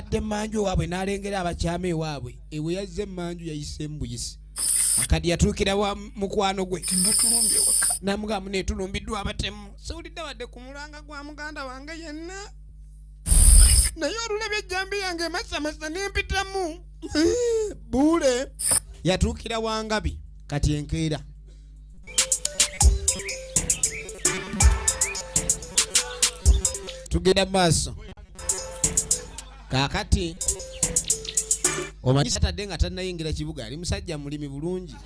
yadde emanju ewaabwe n'alengera abakyama ewaabwe ewe yazze emanju yayise embuyisi kati yatuukira wa mukwano gwe namugamu netulumbiddwa abatemu siwulidde wadde ku mulanga gwa muganda wange yenna naye olulabye ejjambi yange emasamasa nempitamu buule yatuukira wangabi kati enkeera tugenda mu maaso kakati omaatadde nga tannayingira kibuga ali musajja mulimi bulungi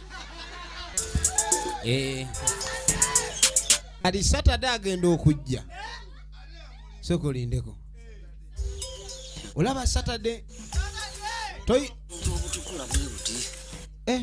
eh. ali satade agenda okujja sokolindeko olaba satade toyi eh.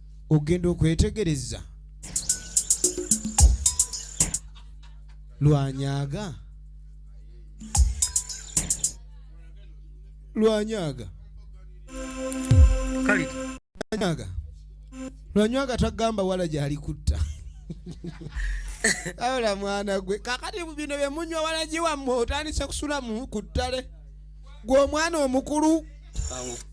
ogenda okwetegereza lwanyaga lwanyaga lwanyaga lwanyaga tagamba wala gyali kutta aola mwana gwe kakati bino byemunywa walagiwammwe otandise kusulamu ku ttale gwe omwana omukulu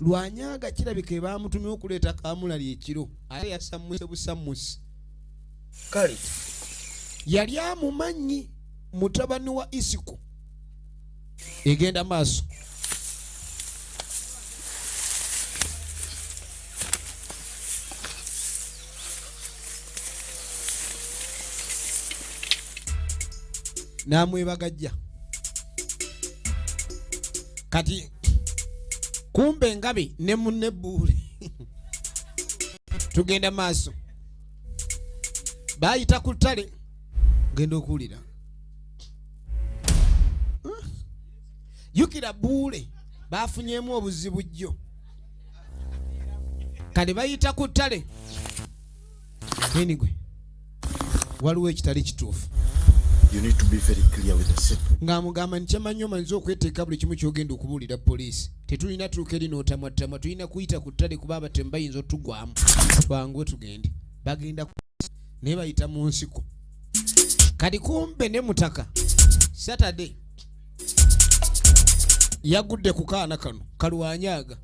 lwanyaga kirabika ebamutumye okuleeta kamulali ekiro ate yasammuse busammusi kale yali amumanyi mutabani wa isiko egenda maaso namwebagajja kati kumbe ngabi ne munne buule tugenda maaso bayita ku ttale genda okuwulira jukira buule bafunyemu obuzibu jjo kale bayita ku ttale enigwe waliwo ekitali kituufu ng'amugamba nti kyamanyi omanyiza okweteeka buli kimu kyogenda okubuulira poliisi tetulina tuuka eri n'otamwattama tulina kuyita ku ttale kuba abatemu bayinza otugwamu twanguwe tugende bagenda naye bayita mu nsiko kati kumbe ne mutaka saturday yagudde ku kaana kano kalwanyaaga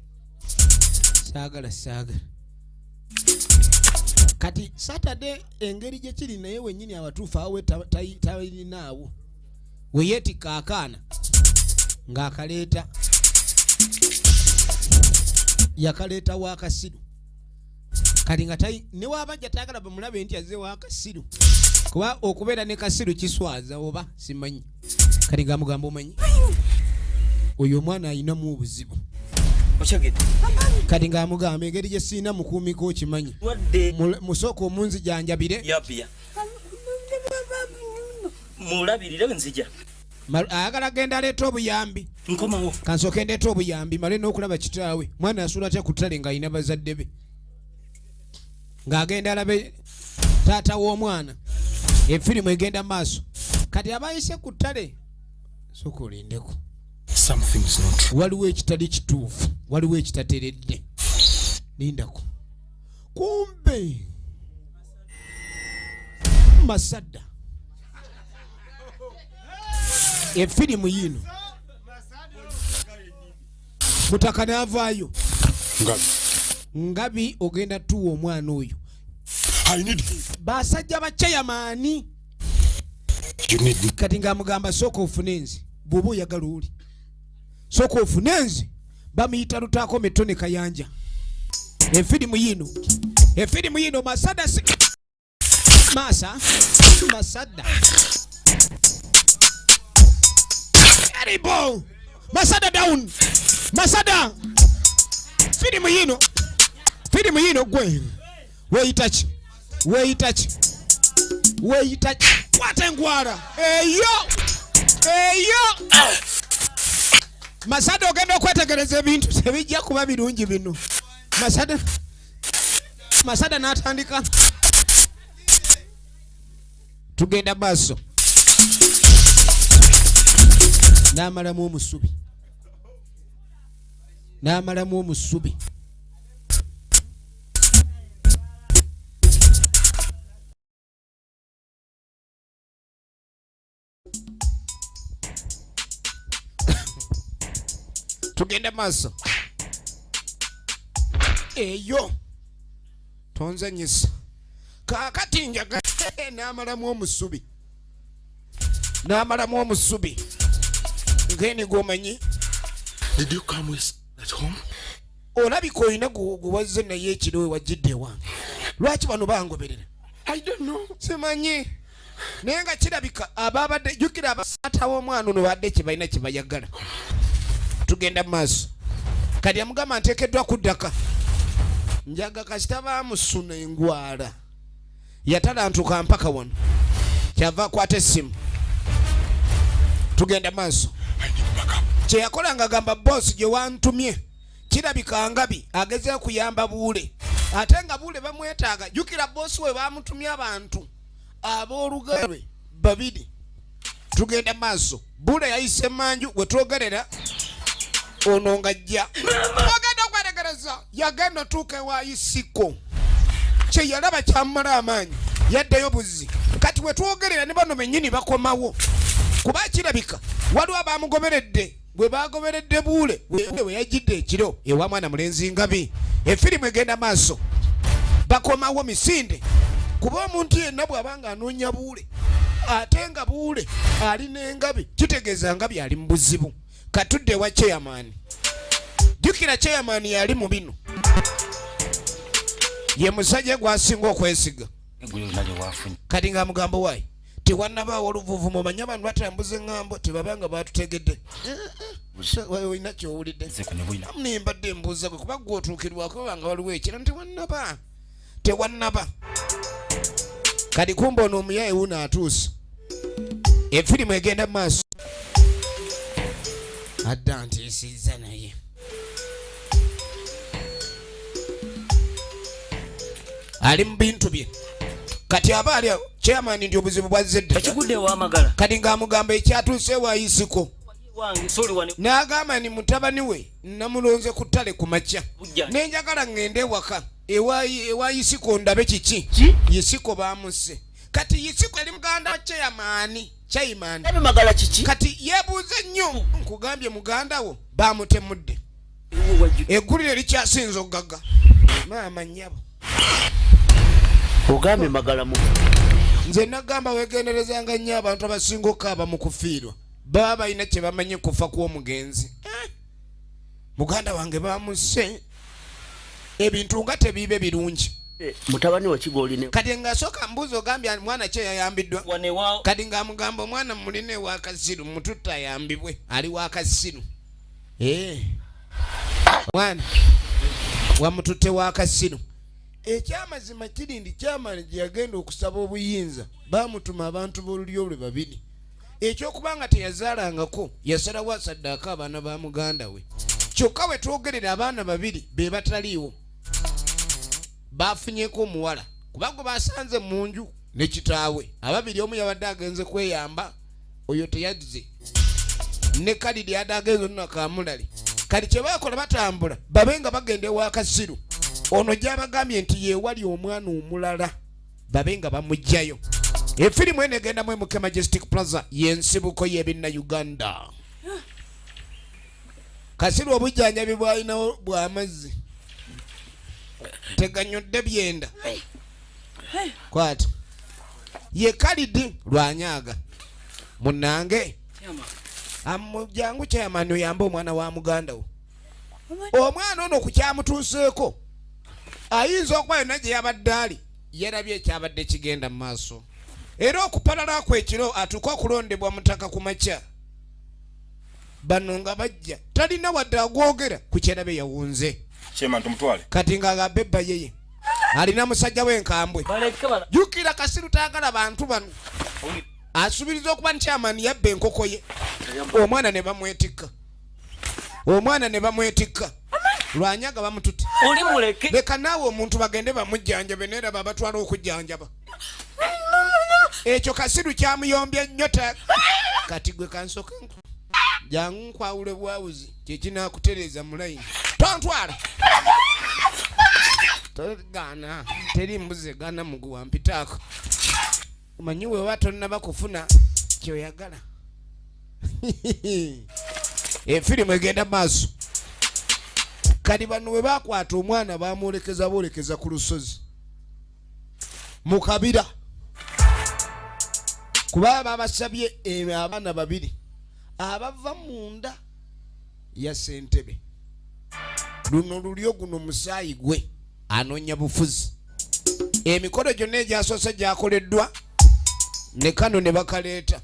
saagala saagala kati satade engeri gye kiri naye wennyini abatuufu awe talinaawo we yeetikka akaana ng'akaleeta yakaleeta wa kasiru kati nga newabajja tayagala bamulabe nti aze wakasiru kuba okubeera ne kasiru kiswaza oba simanyi kati nga mugamba omanyi oyo omwana alinamu obuzibu kati nga amugamba engeri gye sirina mukuumiko okimanyi musooka omunzijanjabire mulabirire nzija ayagala genda aleeta obuyambi nkomawo kansooke ndeeta obuyambi male n'okulaba kitaawe mwana asuula atya ku ttale ng'alina bazadde be ng'agenda alabe taata w'omwana efirimu egenda maaso kati abayise ku ttale soka olindeko waliwo ekitali kituufu waliwo ekitateredde lindako kumbe masadda efirimu yiino mutaka navaayo ngabi ogenda tuwa omwana oyo basajja bacayamaani kati ngamugamba sooka ofune nze bwoba oyagala oli sooka ofune nze bamuyita lutaako metone kayanja efirimu yiino efirimu yiino masadasi Masa, Masada. Karibu. Masada down. Masada. Filimu yino. Filimu yino gwe. Weyita ki? Weyita ki? Weyita ki? Kwata engwara. Eyo. Eyo. Masada ogenda okwetegereza ebintu tebijja kuba birungi bino. Masada. masada n'atandika tugenda maaso n'amalamu omusubi n'amalamu omusubi tugende maaso eyo tonzanyisa kakati njaga namalamu omusubi namalamu omusubi ngeni gwomanyi olabika olina gwewazze naye ekiro wewajjidde ewange lwaki bano bangoberera simanyi naye nga kirabika ababadde jukira abasaata w'omwana ono badde kyebalina kyebayagala tugenda mu maaso kati amugamba nteekeddwa kuddaka njaga kasita bamusuna engwala yatalantuka mpaka wano kyava akwata essimu tugenda maaso kyeyakola nga gamba bosi gye wantumye kirabika ngabi agezea kuyamba buule ate nga buule bamwetaaga jukira bosi we bamutumye abantu ab'oluganda lwe babiri tugenda maaso bula yayise manju we twogerera ono ngajja agenda okweregereza yagenda otuuka ewayisiko kyeyalaba kyamumala amaanyi yaddeyo buzzi kati wetwogerera ne bano benyini bakomawo kuba kirabika waliwo abamugoberedde gwe baagoberedde buule we yajjidde ekiro ewa mwana mulenzi ngabi efirimu egenda maaso bakomawo misinde kuba omuntu yenna bw'aba nga anoonya buule ate nga buule ali n'engabi kitegeeza ngabi ali mu buzibu katudde ewa cheyamaani jjukira cheyamaani yali mu bino ye musajja gwasinga okwesiga kati nga mugambo waayi tewanabaawo luvuvumo manya abantu batambuza eŋŋambo tebabanga baatutegedde olina kyowulidde amune mbadde mbuuza gwe kuba gwe otuukirwako banga waliwo ekira tewannaba tewannaba kati kumba ono omuyaye wuno atuuse efirimu egenda mu maaso adda ntiisizza naye ali mu bintu bye kati aba ali chairman ndi obuzibu bwazze dda ekigudde wamagala kati ng'amugamba ekyatuuse wayisiko n'agamba ni mutabani we namulonze ku ttale ku makya ne njagala ŋŋende ewaka ewa yisiko ndabe kiki yisiko baamusse kati yisiko eri muganda wa cheyamaani chaimani kati yebuuze nnyo nkugambye muganda wo baamutemudde eggulire likyasinza okugaga maama nyabo ogambye magalamu nze nagamba wegenderezanga nnyo abantu abasinga okaaba mu kufiirwa baba balina kye bamanyi kufa kw'omugenzi eh? muganda wange bamuse ebintu nga tebiibe birungi eh, mutabani wakigoline kati ngasooka mbuuzi ogambye mwana kye yayambiddwa kati ng'amugamba omwana mulina ewakasiru mututte ayambibwe ali wakasiru eh. mwana wamututte wa kasino ekyamazima kiri ndi kyamani gye yagenda okusaba obuyinza baamutuma abantu b'olulyo lwe babiri ekyokuba nga teyazaalangako yasalawo asaddaako abaana ba muganda we kyokka we twogerera abaana babiri be bataliiwo baafunyeko omuwala kuba gwe basanze mu nju ne kitaawe ababiri omu yabadde agenze kweyamba oyo teyazze ne kalidi yada agenze nuna kamulali kati kyebakola batambula babe nga bagenda ewa kasiru ono gyabagambye nti yewali omwana omulala babe nga bamugjayo efirimu eno egendamu emuke majestic plaza yensibuko yebinna uganda kasiru obujjanjabi bwalinawo bwamazzi teganyodde byenda kwati ye kalidi lwanyaga munange amujangu chairman oyambe omwana wa muganda wo omwana ono kukyamutuuseeko ayinza okuba yonna gye yabadde ali yarabye ekyabadde kigenda mu maaso era okupalala kwekiro atuuka okulondebwa mutaka ku makya bano nga bajja talina wadde agwogera ku kyerabe yawunze kati nga agamba ebbayeye alina musajja we nkambwe jukira kasiru tayagala bantu bano asubiriza okuba nti amani yabba enkoko ye omwana ne bamwetikka omwana ne bamwetikka lwanyaga bamututte leka naawe omuntu bagende bamujjanjabe naye laba abatwala okujjanjaba ekyo kasiru kyamuyombye nnyo kati gwe kansoke jangu nkwawule bwawuzi kyekinakutereza mulayini tontwala togana teri mbuzi egana muguwa mpitaako omanyi wewa tonnaba kufuna kyoyagala efirimu egenda maaso kati bano bwe bakwata omwana bamwolekeza boolekeza ku lusozi mu kabira kuba babasabye eh, abaana babiri abava munda ya sentebe luno lulyo guno musaayi gwe anoonya bufuzi emikolo gyonna egyasoose gyakoleddwa ne kano ne bakaleeta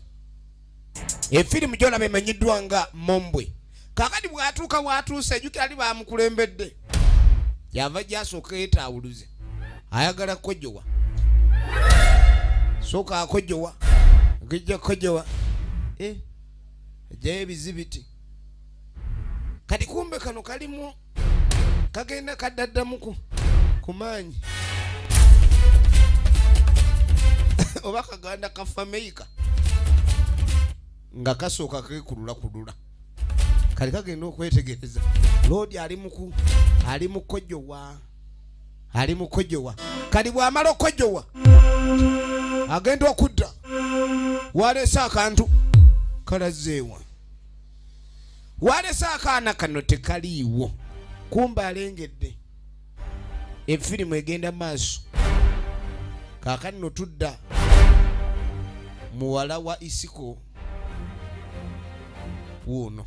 efirimu gyolaba emanyiddwa nga mombwe kakati bwatuuka watuuse ejukira ali bamukulembedde yava gyasooka yetaawuluze ayagala kojowa sooka akojowa okijja kojowa eh. ajjayo ebizibiti kati kumbe kano kalimu kagenda kaddaddamuku ku maanyi oba kaganda ka fameika nga kasooka kekulula kulula kali kagenda okwetegereza loodi ali muku ali mukojjowa ali mu kwejowa kali bw'amala okwejowa agenda okudda waleese akantu kalazeewa waleese akaana kano tekaliiwo kumba alengedde efirimu egenda maaso kaakati no tudda muwala wa isiko wuuno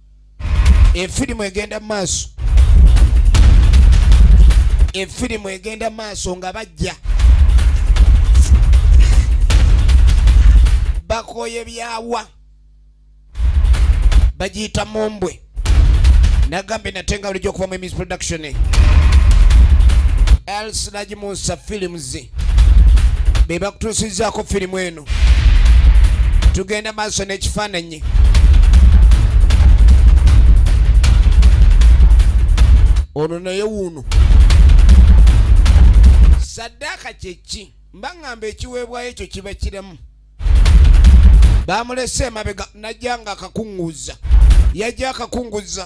efirimu egenda mu maaso efirimu egenda mu maaso nga bajja bakoye byawa bagiyita mumbwe nagambye nate nga bulijjo okuva mu emis production elsinagi munsa films be bakutuusizaako firimu eno tugenda maaso n'ekifaananyi ono naye wuuno saddaaka kyeki mba ŋŋamba ekiweebwayo ekyo kiba kiramu baamulese emabega najja nga akakuŋŋuzza yajja akakuŋŋuzza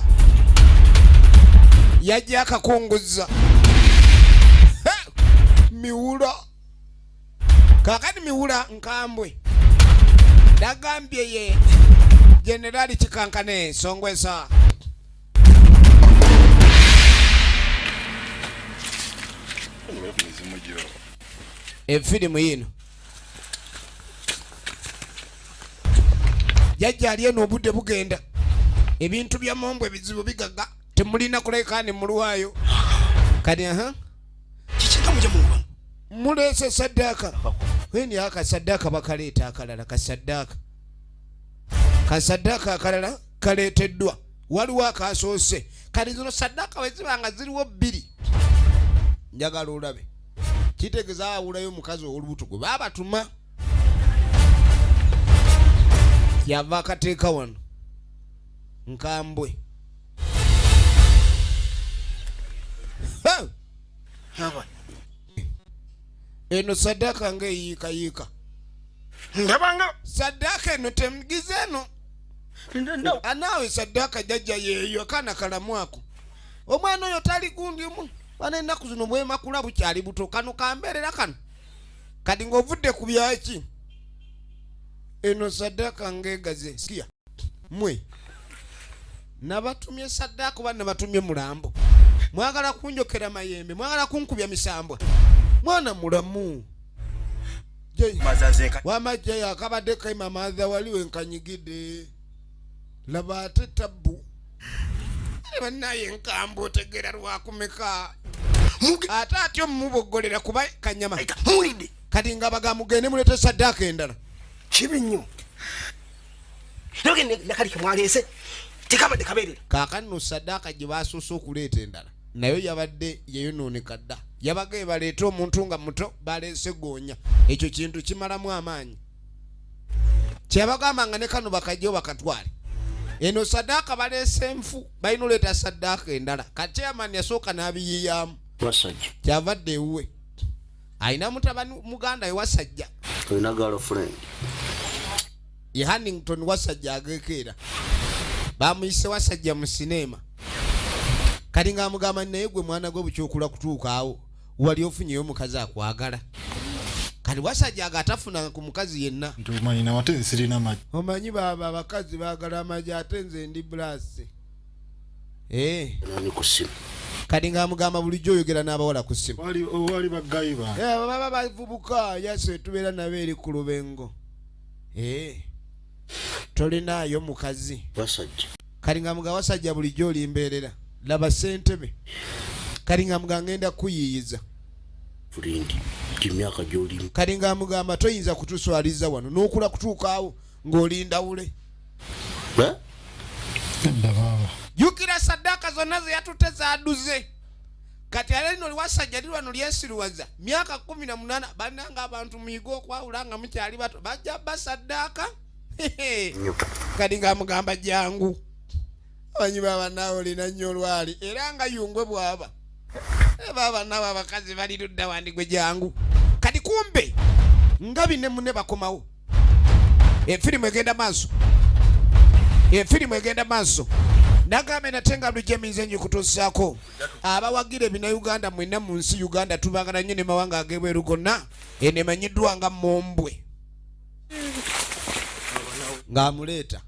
yajja akakuŋŋuzza miwula kakati miwula nkambwe dagambye ye generali kikankane songwesa efirimu yino jajja ali eno obudde bugenda ebintu bya mombo ebizibu bigaga temulina kulekaani mulwayo kati aha uh -huh. muleese saddaaka weni aka saddaaka bakaleeta akalala kasaddaaka kasaddaaka akalala kaleeteddwa waliwo akasoose kati zino saddaaka weziba nga ziriwo bbiri njagala olabe kitegeeza awulayo omukazi ow'olubuto gwe baabatuma yava akateeka wano nkambwe eno sadaka nga eyiika yiika ndabanga sadaka eno temugize eno anaawe sadaka jajja yeeyo akaana kalamu ako omwana oyo tali gundi omu bana ennaku zino bwemakula bukyali buto kano kambeerera kano kati ng'ovudde ku byaki eno sadaka ngegaze siya mwe nabatumye saddaaka oba nabatumye mulambo mwagala kunjokera mayembe mwagala kunkubya misambwa mwana mulamu wamajja yakabadde kaima maadha wali wenkanyigide laba ate tabbu banaye enkamba otegera lwakumeka ate atyo mumubogolera kuba kanyama kati nga bagamugende mulete saddaaka endala kibi nnyo kakanno sadaaka gye basoose okuleeta endala nayo yabadde yeyonooneka dda yabaga ebaleeta omuntu nga muto baleese goonya ekyo kintu kimalamu amaanyi kyabagamba nga ne kano bakajjo bakatwale eno sadaaka baleese nfu balina oleeta sadaaka endala kati chairman yasooka n'abiyiyamu kyavadde ewuwe alina mutabani muganda we wasajja olina girlfriend ye hannington wasajja agekeera bamuyise wasajja mu sineema kati nga amugamba naye gwe mwana gwe bukyokula kutuukaawo wali ofunyeyo omukazi akwagala kati wasajja aga atafuna ku mukazi yenna omanyi baaba abakazi baagala amagi ate nze ndi bulaasi eh. kati ngamugamba bulijjo oyogera n'abawala ku simu eh, baba bavubuka yase tubeera nabo eri ku lubengo eh. tolinaayo mukazi kati ngamuga wasajja bulijjo olimbeerera laba sentebe kati ngamuga ngenda kuyiiyiza kati ngamugamba toyinza kutuswaliza wano nokula kutuukaawo ng'olinda wule jukira saddaaka zonna ze yatutte zaaduze kati ala lino liwasajja lirwa no lyesiruwaza myaka kumi na munana bananga abantu muyiga okwawula nga mukyali bato bajja basaddaaka kati nga mugamba jangu abanyi baba naawe olina nnyo olwali era nga yungwe bwaba eh, baba naawe abakazi balirudda wandigwe jangu kati kumbe ngabi ne mune bakomawo efirimu egenda maaso efirimu egenda maaso nagambe nate nga bulijjo eminze nyo kutuusaako abawagira ebinauganda mwena mu nsi uganda tubagala nnyo ne mawanga agebweru gonna eno emanyiddwa nga mombwe ng'amuleeta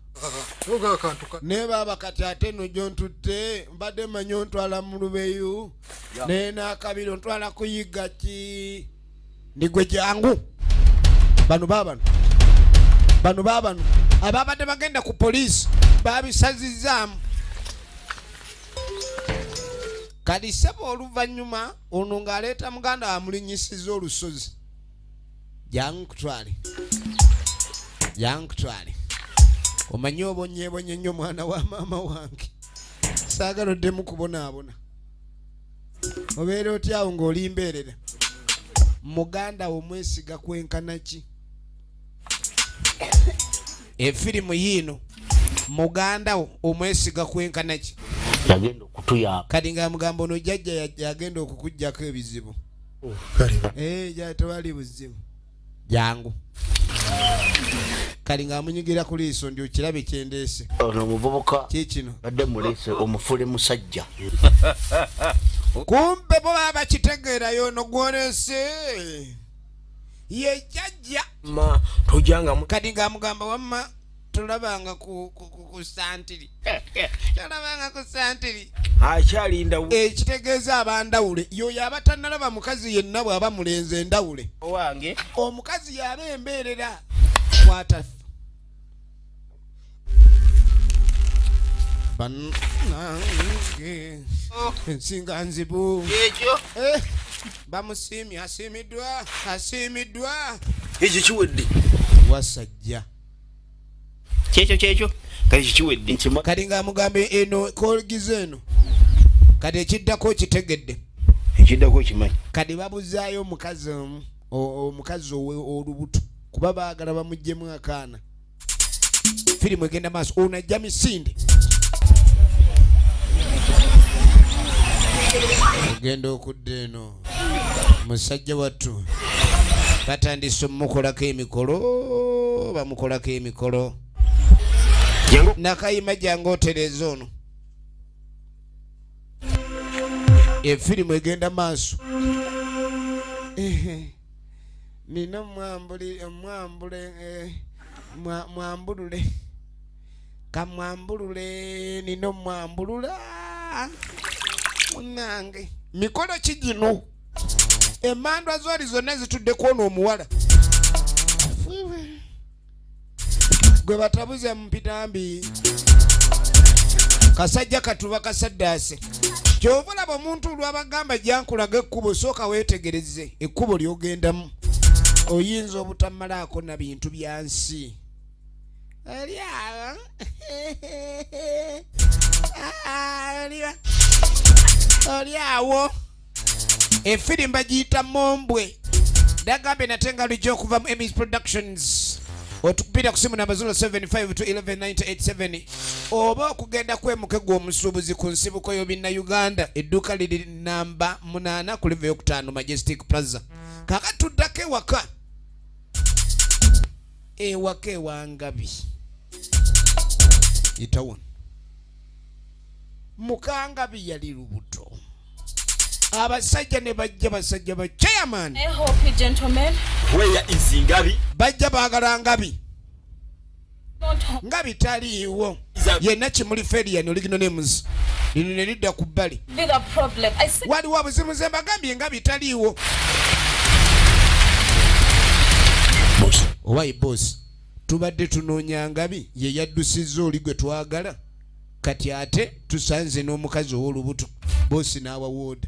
naye baaba kati ate eno gyontutte mbadde manyi ontwala mu lubeyu naye n'akabiri ontwala kuyigga ki nigwe jangu bano babano bano babano ababadde bagenda ku poliisi babisazizaamu kati sebo oluvannyuma ono ng'aleeta muganda wamulinyisiza olusozi jangu kutwale jangu kutwale omanyi obonyebonye nnyo mwana wa maama wange saagala oddemu kubonaabona obeera otya awo ng'oli mbeerera muganda wo mwesiga kwenkana ki efirimu yiino muganda wo omwesiga kwenkana ki yagenda okutuyamba kati nga mugamba ono jajja yagenda okukujjako ebizibu oh, eh, tewali buzibu jangu kali ng'amunyigira ku liiso ndi okirabe kyendeese ono omuvubuka kikino badde muliise omufule musajja kumpe bo baba bakitegeerayo ono gwoleese ye jajja kadi ng'amugamba wamma tolabanga ku santiri eh, eh. tolabanga ku santiri akyalinda ekitegeeza abandawule yoyo abatanalaba mukazi yenna bwaba mulenze endawule owange omukazi yaba embeerera kwata banange oh. ensinga nzibu ekyo eh, bamusiimye asiimiddwa asiimiddwa ekyo kiwedde wasajja kyekyo kyekyo kati kikiwedde kati nga amugamba eno kolgiza eno kati ekiddako kitegedde ekiddako kimanyi kati babuzaayo omukazi omu omukazi olubuto kuba baagala bamugjemu akaana firimu egenda maaso ono ajja misinde ogenda okudda eno musajja wattu batandise omukolako emikolo bamukolako emikolo nakayima jange otereza ono efirimu egenda maaso nina omwambule eh, mwambulule kamwambulule nina omwambulula munange mikolo ki gino emandwa zoli zonna zitudde kwona omuwala gwe batabuza mupitambi kasajja katuba kasaddaase kyova olaba omuntu olwabagamba jankulaga ekkubo sooka weetegereze ekkubo lyogendamu oyinza obutamalaako na bintu bya nsi Oli awo. Ah, oli wa- oli awo efiri mbagiyita mombwe dagambye nate nga lujja okuva mu emis productions otupira ku simu namba 075 to 11987 oba okugenda kwemuke gw'omusuubuzi ku nsibuko y'obinna uganda edduuka liri namba 8 ku live yokutaano majestic plaza kakati tuddako ewaka ewaka ewangabi itawo mukangabi yali lubuto abasajja ne bajja basajja ba chairman bajja baagala ngabi nga bitaliiwo yenna kimuli ferian oligino nemuzi lino ne lidda ku bbali waliwo obuzibu nze mbagambye nga bitaliiwo owayi bosi tubadde tunoonya ngabi ye yaddusizza oli gwe twagala kati ate tusanze n'omukazi ow'olubuto bosi n'awawooda